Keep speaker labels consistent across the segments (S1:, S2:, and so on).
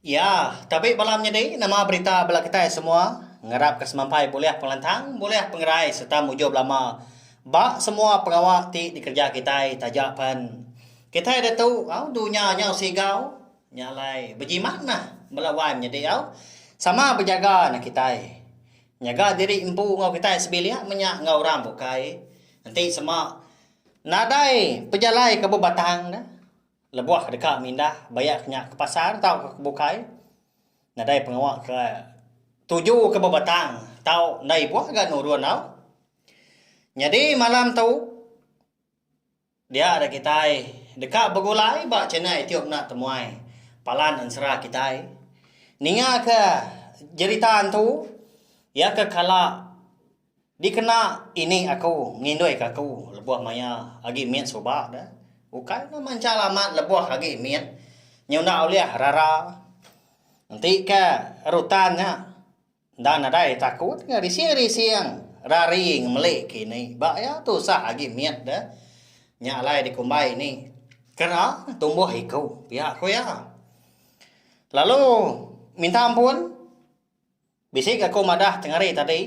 S1: Ya, tabi bala menyadi nama berita bala kitai semua ngarapka semampai bulih pengelantang, bulih pengerai sereta mujur belama ba semua pengawa ti dikereja kitai taja pen kitai diatu au dunya nyau sigau nya alai bejimat meh bala wai menyadi au sama bejaga neg kitai nyaga diri empu enggau kitai sebilik menya enggau orang bukai enti sema nadai pejalai ke bebatang neh. Lebuh deka mindah baya ke nya ke pasar tauka ke bukai, nadai pengawa ke tuju ke bebatang tau enda ibuh ga nurun au. Nyadi malam tu dia da kitai deka begulai ba channel YouTube enda temuai palan ensera kitai ninga ke jerita antu iya ke kala. Dikena ini aku nginduika aku lebuh maya agi mit suba da, ukai enda manchal amat lebuh agi mit nyau enda ulih rara. Enti ka rutan nya enda nadai takut ka rising-rising rari ngemeli kini ba iya tusah agi mit da nya alai dikumbai ini kera tumbuh iku pia ku iya. Lalu minta ampun. Bisi ga aku madah cengari tadi.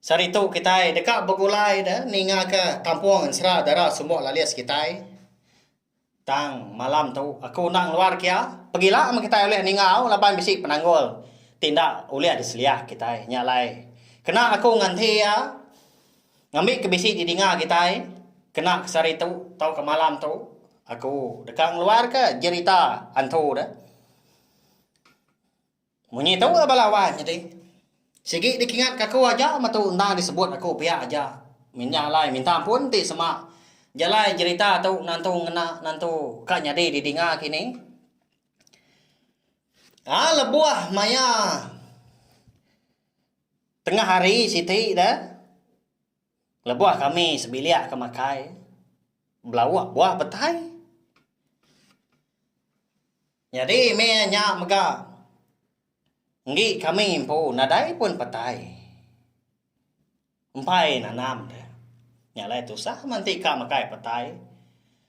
S1: Sehari tu kitai deka begulai da ninga ka kampung ensera dara sumbo lalis kitai. Tang malam tu aku enda ngeluar kia, pegila meh kitai ulih ningau laban bisi penanggul ti enda ulih diseliah kitai nya alai. Kena aku nganti iya ngambi ke bisi di dinga kitai kena ke sehari tu tauka malam tu aku deka ngeluar ka jerita hantu da. Munyi tu lah bala wan nyadi. Sigi dikingatka aku aja metu endang disebut aku pia aja mindah alai minta ampun ti sema jalai jerita tu nantu ngena nantu ka nyadi didinga kini. Aa lebuh maya tengah hari siti da. Lebuh kami sebilik ke makai belauk buah petai. Nyadi meh nya mega enggi kami empu nadai pun petai. Empai nanam ne. Nya alai tusah manti ka makai petai.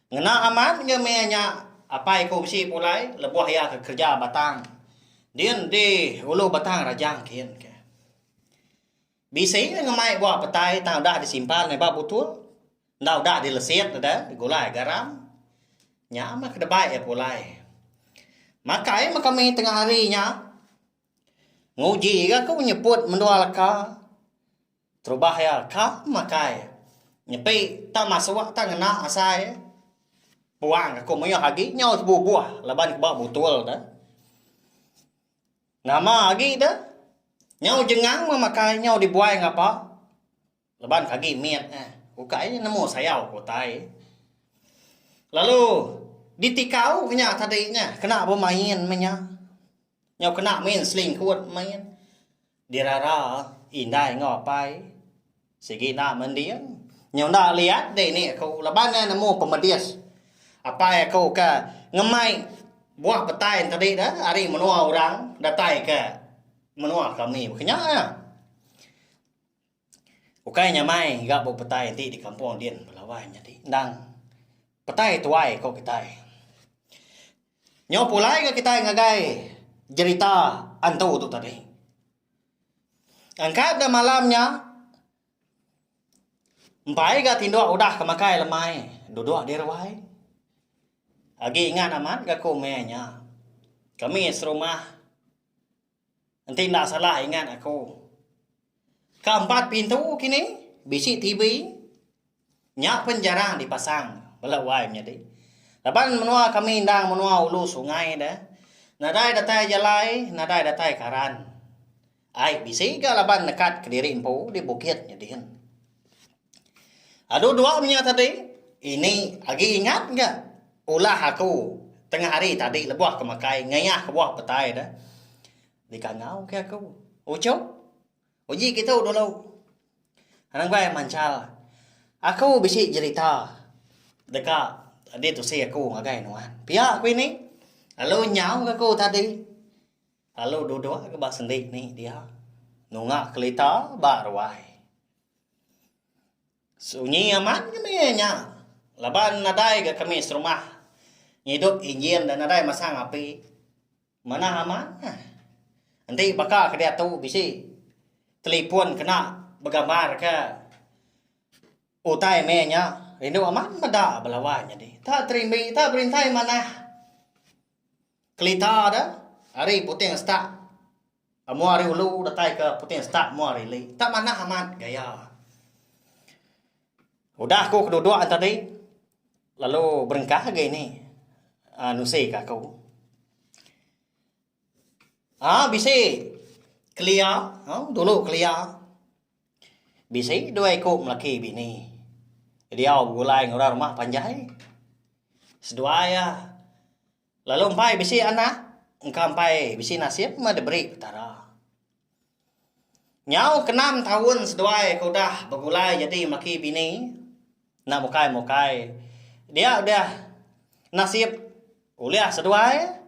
S1: Ngena amat nge meh nya apai ku bisi pulai lebuh iya ke kereja batang. Din di ulu batang rajang kin ke. Bisi iya ngemai bua petai tang udah disimpan meba butul enggau udah dilesit deda digulai garam. Nya meh kedebai iya pulai. Makai meh kami tengah hari nya. Nguji ga ku nyeput mendua leka terubah iya ka makai. Nyepi tang masuk tang ngena asai puang aku meyuh agi nyau sebubuh laban ba butul deh. Nama agi da nyau jengang meh makai nyau dibuai ngapa leban ke agi mit neh ukai nya nemu sayau ke utai lalu ditikau ke nya tadi nya kena bemain meh nya nyau kena main selingkut main dirara indai enggau apai. Sigi enda mending. Nyau enda liat dini aku laban ne nemu pemedis apai aku ke ngemai buah petai tadi tu ari menua orang datai ke menua kami baka nya nya. Ukai nya mai ga buah petai ti di kampung din bala wai nyadi endang petai tuai ku kitai. Nyau pulai ga kitai ngagai jerita antu tu tadi. Angkat da malam nya empai ga tinduk udah ke makai lemai duduk di ruai. Agi ingat amat ga ku meh nya. Kami serumah enti enda salah ingat aku. Ka empat pintu kini bisi TV. Nya pen jarang dipasang bela wai menyadi laban menua kami endang menua ulu sungai da nadai datai jalai nadai datai karan ai bisi ga laban nekat kediri empu di bukit nya din. Adu dua menya tadi ini agi ingat ga ulah aku tengah hari tadi lebuh ke makai ngeyah kebuah petai da dikangau ke aku uchup. Uji kitu dulu. Anang bai manchal. Aku bisi jerita deka adi tusi aku ngagai nuan. Pia aku ini lalu nyau ke aku tadi lalu duduk ke ba sendi ni dia nunga kelita ba ruai. Sunyi amat kami nya laban nadai ga kami serumah ngidup injin nadai masang api. Manah amat. Enti baka ke diatu bisi telefon kena begambar ke utai meh nya rindu amat meda bala wai nyadi. Enta terimbi enta berintai manah kelita de ari puting setak amu ari ulu datai ke puting setak amu ari ili. Enta manah amat gaya. Udah aku keduduk aja tadi lalu berengkah agi ni nusi ka aku. Aa bisi kelia dulu kelia bisi dua iku laki bini diau begulai ngau orang rumah panjai seduai iya Lalu empai bisi anak engka empai bisi nasib meh diberi Petara. Nyau ke enam taun seduai ke udah begulai nyadi melaki bini enda mukai mukai dia udah nasib ulih seduai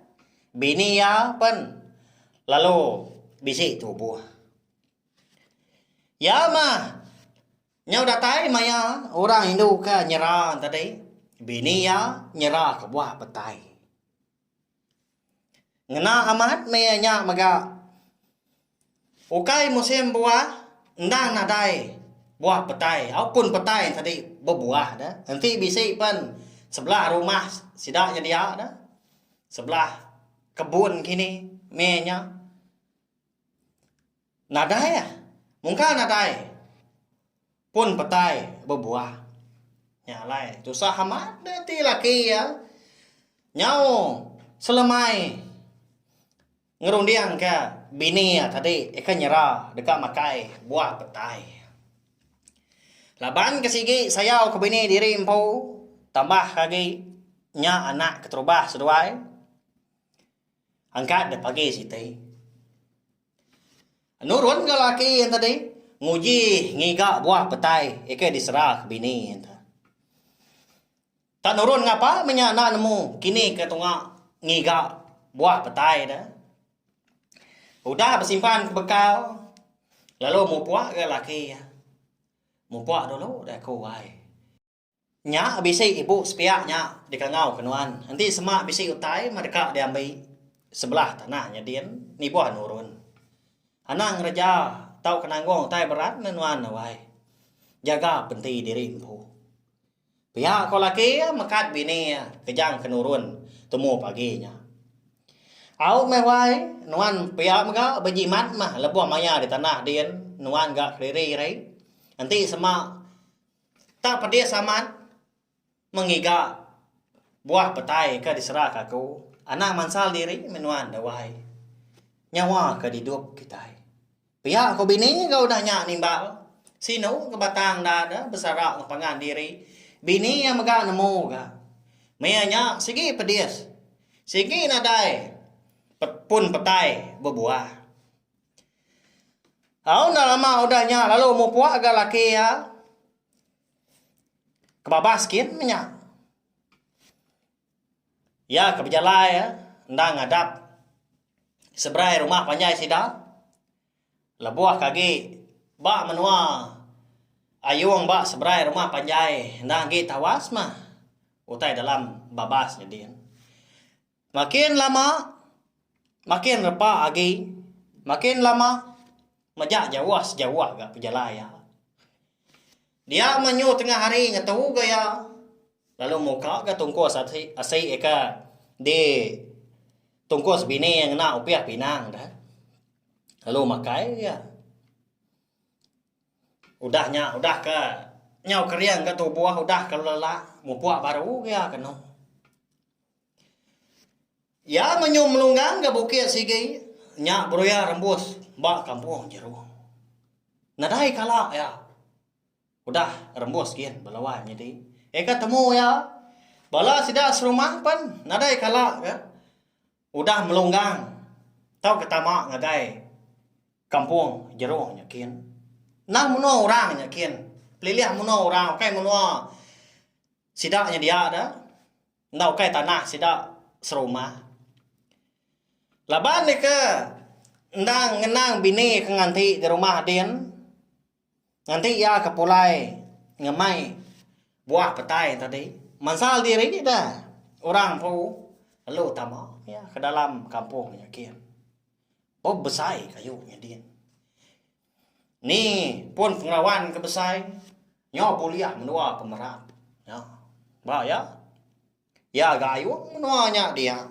S1: bini iya pen lalu bisi tubuh. Iya mah. Nyau datai maya orang indu ke nyera tadi, bini iya nyera ke buah petai. Ngena amat meh nya mega ukai musim buah endang nadai buah petai au pun petai tadi bebuah deh enti bisi pen sebelah rumah sida nyedia deh sebelah kebun kini meh nya. Nadai ah. Mungka nadai pun petai bebuah. Nya alai tusah amat da ti laki iya nyau selemai ngerundingka bini iya tadi ika nyera deka makai buah petai. Laban ke sigi sayau ke bini diri empu tambah ke agi nya anak keterubah seduai angkat da pagi siti. Nurun ga laki enti dih nguji ngiga buah petai ikei disera ke bini enti. Tak nurun ngapa meh nya enda nemu kini ke tunga ngiga buah petai deh. Udah besimpan ke bekau lalu mupok ga laki iya. Mupok dulu deh aku ai. Nya bisi ibu sepiak nya dikangau ke nuan. Enti sema bisi utai meh deka diambi sebelah tanah nya din nibuh nurun. Anang ngereja tauka nanggung utai berat meh nuan awai. Jaga penti diri empu. Pia ko laki iya mekat bini iya kejang ke nurun tumu pagi nya. Au meh wai nuan pia mega bejimat meh lebuh maya di tanah din nuan ga kediri rei. Enti sema Tang pedis amat mengiga buah petai ke diseraka aku anang mansal diri meh nuan da wai. Nyawa ke didup kitai. Pia ku bini ga udah nya nimbal sinu ke batang enda de besara enggau pangan diri. Bini iya mega nemu ga. Meh nya sigi pedis. Sigi nadai pun petai bebuah. Au enda lama udah nya lalu mupuk ga laki iya kebabas gin meh nya. Iya ke bejalai enda ngadap seberai rumah panjai sida lebuh ke agi ba menua Ayong ba seberai rumah panjai enda agi tawas meh utai dalam babas nya din. Makin lama, makin repa agi, makin lama, mejak jauh sejauh ga pejalai iya. Dia menyu tengah hari ngetu ga iya, lalu muka ga tungkus asi eka di tungkus bini iya ngena upih pinang deh, lalu makai ga iya. Udah nya, udah ke nyau kering ga tubuh, udah ke lelak, mupuk baru ga iya kenu. Iya menyum melunggang ke bukit sigi nya beruya rembus ba kampung jeru. Nadai kala iya udah rembus gin ba lawan nyadi eka temu iya bala sida serumah pen nadai kala ke udah melunggang tauka tama ngagai kampung jeru nya gin. Nang menua orang nya gin pelilih menua orang ukai menua sida nya dia da. enda ukai tanah sida serumah laban deka endang ngenang bini ke nganti di rumah din nganti iya ke pulai ngemai buah petai tadi mansal diri da orang empu lalu tama iya ke dalam kampung nya kieh buk besai kayu nya din. Ni pun pengawan ke besai nyau bulih menua ke merat. Nya. Ba iya. Iya gayung menua nya dia.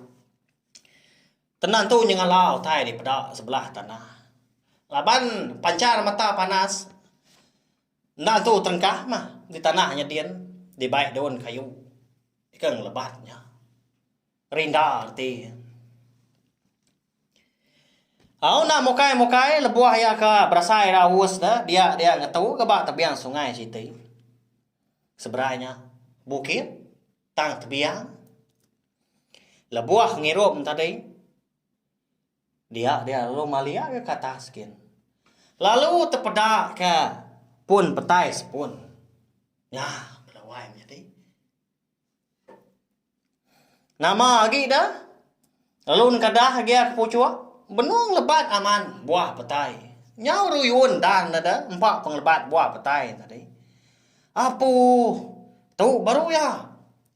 S1: Tenantu nyengala utai dipeda sebelah tanah. Laban panchar mata panas enda entu terengkah mah di tanah nyadin dibai daun kayu. Ika ngelebat nya. Rinda reti. Au enda mukai-mukai lebuh iya ke berasai ira aus de dia dia ngetu ke ba tebiang sungai siti. Seberai nya bukit tang tebiang. Lebuh ngirum tadi dia dia lalu malia ke atas gin. Lalu tepeda ke pun petai sepun. Nya bela wai menyadi. Nama agi da lalu nengka dah agi aku puchok benung lebat aman buah petai nyau ruyun dah ne da empa pengelebat buah petai ne tadi apuh tu baru iya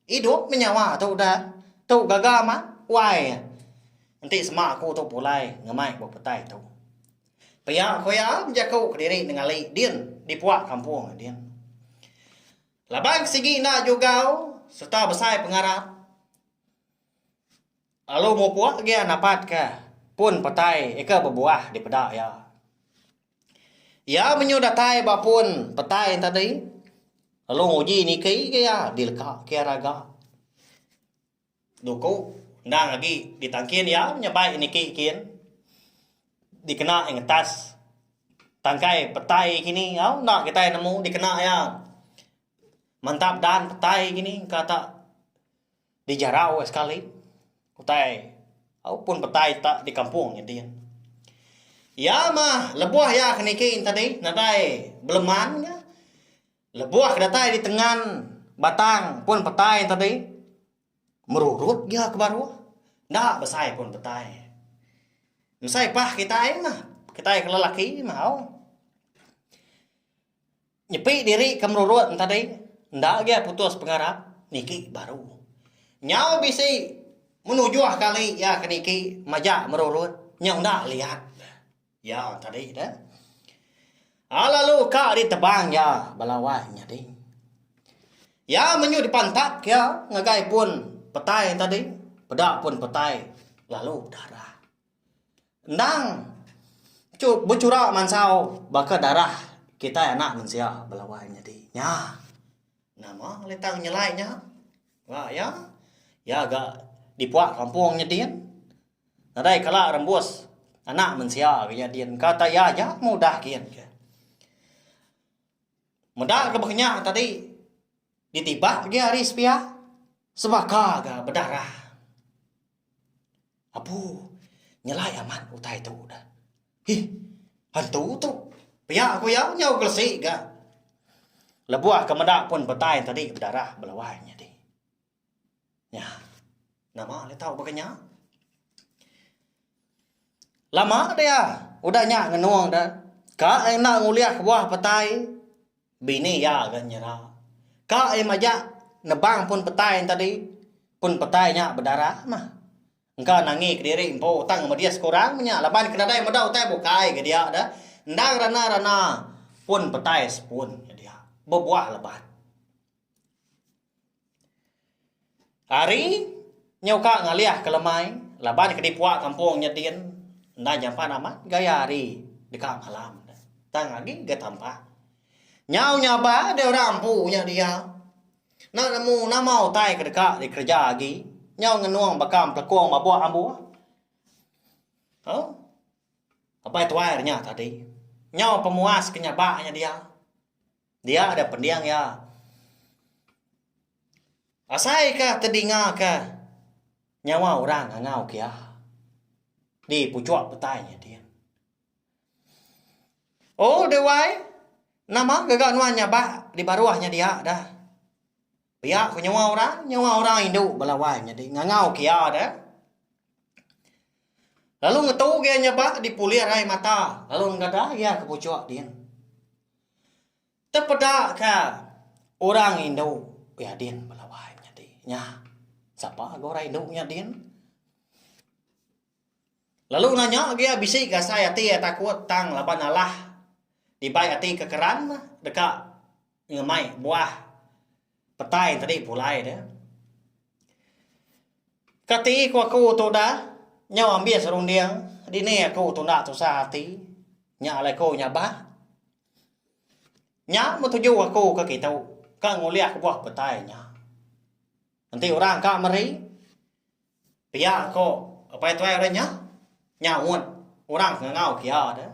S1: idup meh nyawa tu udah tu gaga amat wai enti sema aku tu pulai ngemai buah petai tu pia ku iya bejaku kediri nenggali din dipua kampung din. Laban ke sigi enda jugau sereta besai pengarap lalu mupuk gia napat ke pun petai ika bebuah dipeda iya. Iya menyuh datai ba pun petai yen tadi lalu nguji niki ke iya dileka ke iya raga. Duku, endang agi ditangkin iya nyebai niki kin dikena iya ngetas tangkai petai kini enggau enda kitai nemu dikena iya mantap dan petai kini engka tak dijarau iya sekali utai au pun petai tak di kampung nya din. Iya mah lebuh iya ke niki tadi nadai beleman ka. Lebuh datai di tengan batang pun petai ento ti, merurut gia ke baruh, enda besai pun petai. Besai pah kitai mah, kitai ke lelaki mahau nyepi diri ke merurut ento tadi, enda agai putus pengarap niki baru. Nyau bisi menujuh kali iya ke niki majak merurut nyau enda liat. Iya tadi dah. A lalu ka ditebang iya belawai nyadi. Iya menyuh dipantak iya ngagai pun petai tadi, peda pun petai lalu bedarah. Endang bechura mansau baka darah kitai anak mensia belawai nyadi. Nya nama lalu tang nyelai nya. Ba iya, iya ga dipuak kampung nya din. Nadai kala rembus Anak mensia ke iya din engka tai iya aja mudah gin ke. Meda ke baka nya tadi ditibak agi hari sepia sebaka ga bedarah. Apu nyelai amat utai tu dah. Hih hantu tu pia ku iya nyau gelesi ga lebuh ke meda pun petai tadi bedarah belawai nyadi. Nya. Nama le tau baka nya? Lama dia udah nya ngenung de ka enda ngulih kebuah petai bini iya ga nyera. Ka iya majak nebang pun petai tadi pun petai nya bedarah mah. Engka nangi kediri empu tang medis ke orang mah nya laban ke nadai meda utai bukai ga dia de endang rana-rana pun petai sepun ga dia. Bebuah leban. Ari nyau ka ngalih ka lemai laban ke dipuak kampung nya din enda nyampan amat gaya ari deka malam ne tang agi ga tampa. Nyau nyaba deh orang empu nya dia enda nemu nama utai ke deka dikereja agi nyau ngenung baka empelekong babuk ambuh tu apai tuai inya tadi nyau pemuas ke nyaba nya dia. Dia ada pending iya. Asaika tedingaka nyawa orang ngangau ke iya. Di puchok petai nya din. Oh dewy nama gaga nuan nyabak di baruh nya dia dah. Pia ku nyawa orang, nyawa orang indu bala wai nya di ngangau ke iya dah. Lalu ngetu ke iya nyabak di pulih arai mata lalu nenggadah iya ke puchok din. Tepedaka orang indu nyadin bala wai menyadi nya. Sapa ga orang indu nyadin lalu nanya agia bisi ga asai ati iya takut tang laban alah dibai ati ke keran deka ngemai buah. Petai tadi pulai dia. Kati ku aku tudah, nyau ambis runding, dini aku tudah tusah ati, nya alai ku nya bah. Nya meh tuju aku ke kitu, ka ngulih kebuah petai nya. Enti orang ka meri. Pia ko Apai Tuai orang nya nyaut orang ngangau kia de.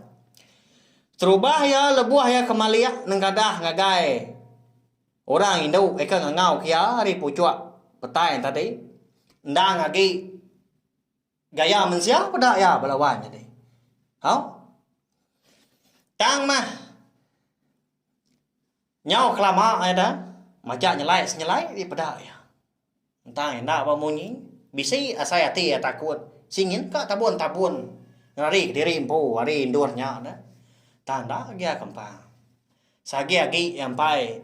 S1: Terubah iya lebuh iya kemalik nenggadah ngagai orang indu ika ngangau kia ari puchok petai tadi endang agi gaya mensia peda iya bala wan nyadi. Au. Tang mah. Nyau kelama iya da majak nyelai senyelai ti peda iya. Entang enda ba munyi, bisi asai ati iya takut singin ka tabun-tabun ngelari kediri empu ari endur nya da. Tang enda agi iya kempang. Sagi agi iya empai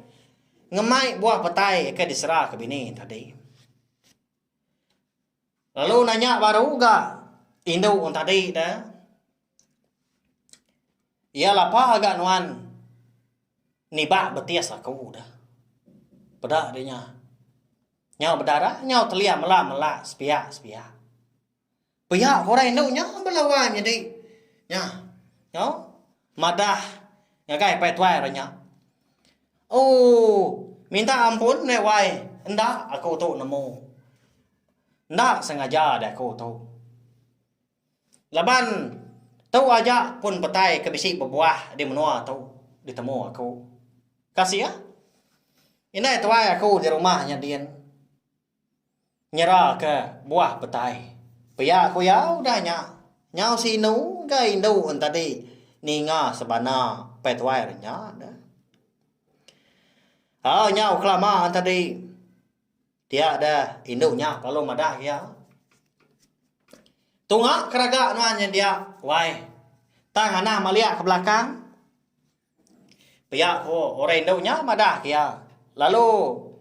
S1: ngemai buah petai ke diseraka bini tadi. Lalu nanya baru ga indu orang tadi da iya lapa ga nuan niba betis aku da peda deh nya nyau bedara nyau telia mela mela sepiak sepiak. Pia orang indu nya belawan nyadi nya nyau madah ngagai pai tuai orang nya. Ooh minta ampun meh wai enda aku tu nemu. Enda sengaja deh aku tu. Laban tu aja pun petai ke bisi bebuah di menua tu ditemu aku. Kasih ah. Indai tuai aku di rumah nya din. Nyeraka buah petai. Pia ku iya udah nya, nyau sinu ga indu entadi ninga sebana petuai re nya neh. Au nyau kelama entadi pia deh indu nya lalu madah iya. Tunga ke raga nuan nyendia wai tang anang maliak ke belakang. Pia ko orang indu nya madah ke iya. Lalu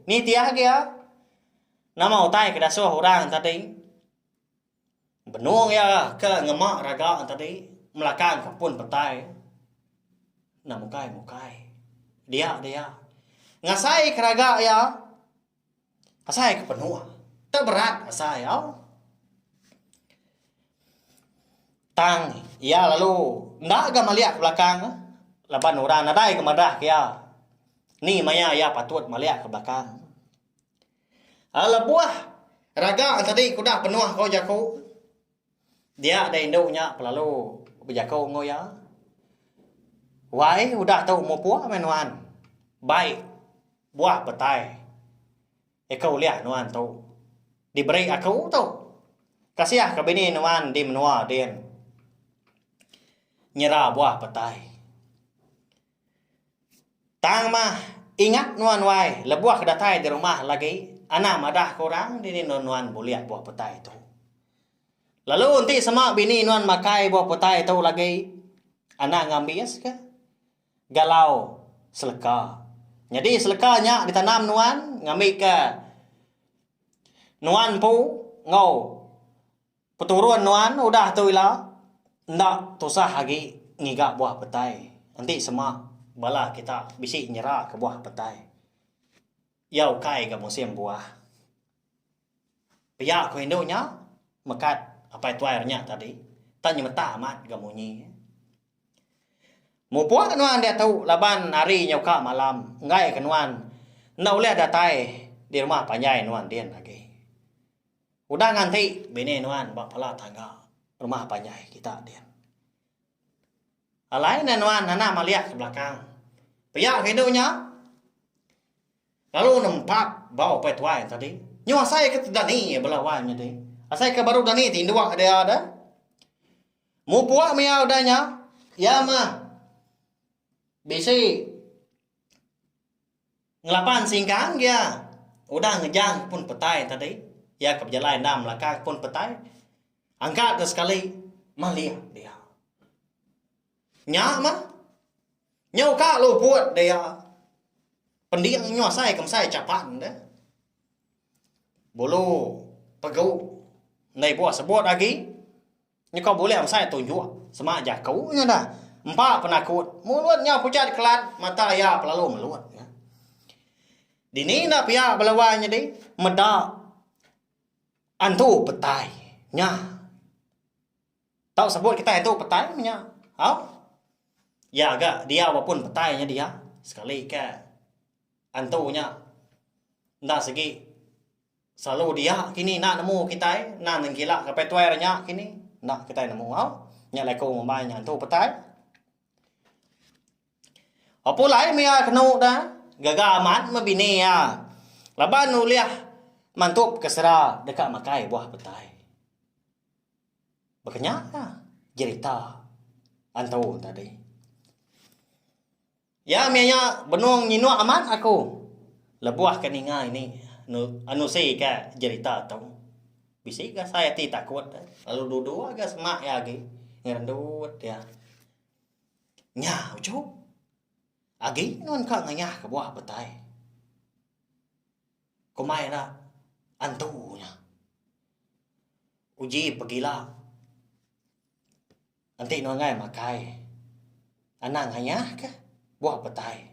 S1: nitih agi iya, Nama utai ke dasuh orang tadi? Benung iya ke ngema raga tadi melakang ka pun petai enda mukai-mukai. Dia dia ngasaika raga iya. Asai ke penung. Te berat asai au. Tang iya lalu enda ga maliak ke belakang laban orang nadai ga madah ke iya. Ni maya iya patut maliak ke belakang. Lebuh raga tadi ku udah penuh ko jaku. Dia da indu nya pelalu bejaku enggau iya. Wai udah tu mupuk meh nuan. Bai buah petai iko ulih nuan tu diberi aku tu. Kasih ka bini nuan di menua din nyera buah petai. Tang mah, ingat nuan wai, lebuh ke datai di rumah lagi, anang madah ke orang dini non nuan bulik buah petai tu. Lalu enti sema bini nuan makai buah petai tu lagi, anang ngambis ke galau seleka. Nyadi seleka nya ditanam nuan ngambika nuan empu enggau. Peturun nuan udah tu ila enda tusah agi ngiga buah petai enti sema bala kita bisi nyera ke buah petai iya ukai ga musim buah. Pia ku indu nya mekat apai tuai re nya tadi tang nyemeta amat ga munyi. Mupuk nuan diatu laban hari nya uka malam enggai ke nuan enda ulih datai di rumah panjai nuan din agi. Udah nganti bini nuan ba pala tangga rumah panjai kita din. Alai ne nuan nana maliak ke belakang. Pia ke indu nya lalu nempat bau upai tuai ne tadi. Nyuh asai ke ti dani bala wai nya deh. Asai ke baru dani ti indua ke dia deh. Mupuk mia udah nya iya mah bisi Ngelaban singkang iya udah ngejang pun petai tadi, iya ke bejalai enda melakaka pun petai, angka ke sekali malih dia. Nya mah, nyau ka luput dia pending nyau asai ke mesai chapan deh. Bulu pegu enda ibuh sebut agi. Nyukau bulih besai tunjuk semak jaku nya dah empa penakut mulut nyau pecah dikelat mata iya pelalu melut nya dini enda pia bala wai nyadi meda antu petai nya tau sebut kitai antu petai meh nya au iya ga diau mapun petai nya diau sekali ka antu nya enda segi. Selalu dia kini enda nemu kitai nan nengkila ngapai tuai re nya kini enda kitai nemu au nya leko ngembai nya entu petai. Apu lai mih iya kenu da gaga amat meh bini iya laban ulih mantup ke sera deka makai buah petai. Baka nya ka jerita antu tadi. Iya meh iya benung nyinuk amat aku lebuh ke ninga ini nerusi ke jerita tu. Bisi ga sai ati takut eh. Lalu duduk ga semak iya agi ngerendut iya. Nya uchu. Agi nun ka ngayah kebuah petai. Kombai ira antu nya. Uji pegila. Enti nongai makai. Anang ayah kah buah petai.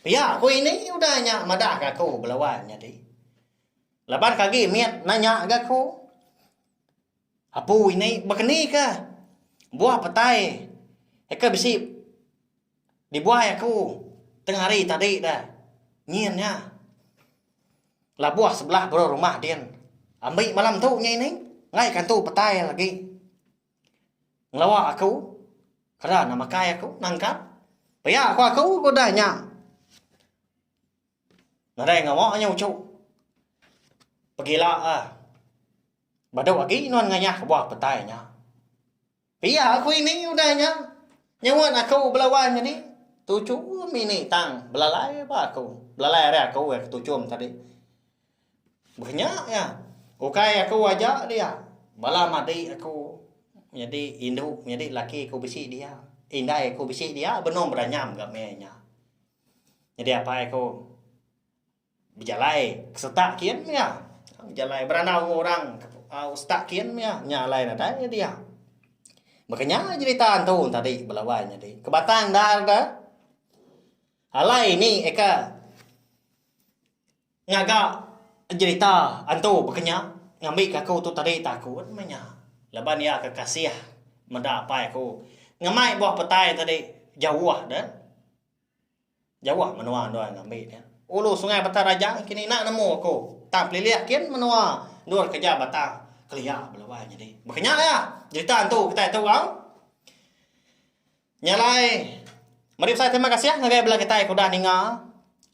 S1: Pia aku ini udah nya madah ga aku bela wan nyadi. Laban ke agi mit nanya ga aku. Apu ini baka ni kah buah petai ke bisi. Dibuai aku tengah hari tadi da nyin nya labuh sebelah bro rumah din ambi malam tu nya ini enggai ke entu petai agi ngelawa aku keda enda makai aku nangkap pia ku aku ku udah nya nadai ngawa nya uchu pegila a badu agi nuan ngayah kebuah petai nya. Pia ku ini udah nya. Nyuan aku belawan nyadi tuchum ini tang belalai ba aku. Belalai ari aku iya ke tuchum tadi. Beh nya iya. Ukai aku aja dia. Bala madi aku nyadi indu nyadi laki aku bisi dia. Indai aku bisi dia benung bedanyam ga meh nya. Nyadi apai aku. Bejalai ke setak kin mia. Bejalai berandau enggau orang ke setak kin mia. Nya alai nadai nya dia. Baka nya jerita entu tadi bala wai nyadi. Ke batang endar de, alai ni eka ngaga jerita entu baka nya ngambika aku tu tadi takut meh nya. Laban iya ke kasih meda apai aku ngemai buah petai tadi jauh de. Jauh menua endur ngambi nya. Ulu Sungai Batang Raja engkini enda nemu aku tang pelilih kin menua endur kereja batang kelia beluai nyadi. Baka nya iya jerita entu kitai tu au. Nya alai meri besai terima kasih ngagai bala kitai ke udah ninga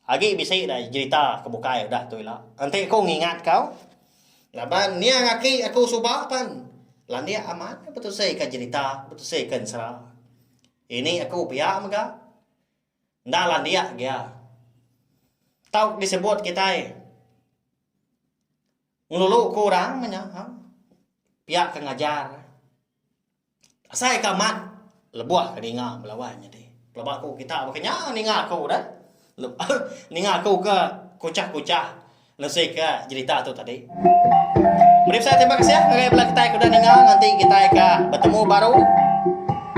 S1: agi bisi dai jerita ke bukai udah tu ila. Enti ku ngingat kau laban niang aki aku suba pan landik amat betusika jerita betusika ensera. Ini aku pia mega. Enda landik gia. Tau ke disebut kitai ngelulu ke orang meh nya ha. Pia ke ngajar. Asai ke amat lebuh ke ninga belawan nyadi. Pelaba aku kita baka nya ninga aku deh. Lepas ninga aku ke kuchah kuchah nusi ke jerita tu tadi. Meri besai terima kasih ngagai bala kitai ke udah ninga nganti kitai ka betemu baru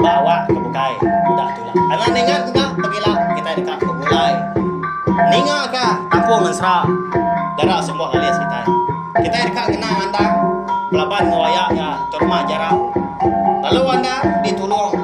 S1: ba awak ke bukai udah tula. Anak ninga mega pegila kitai deka begulai ninga ka kampung Ngensera gara semua alis kitai. Kitai deka ngena ngandang belaban enggau aya iya terma jara lalu andang ditulung.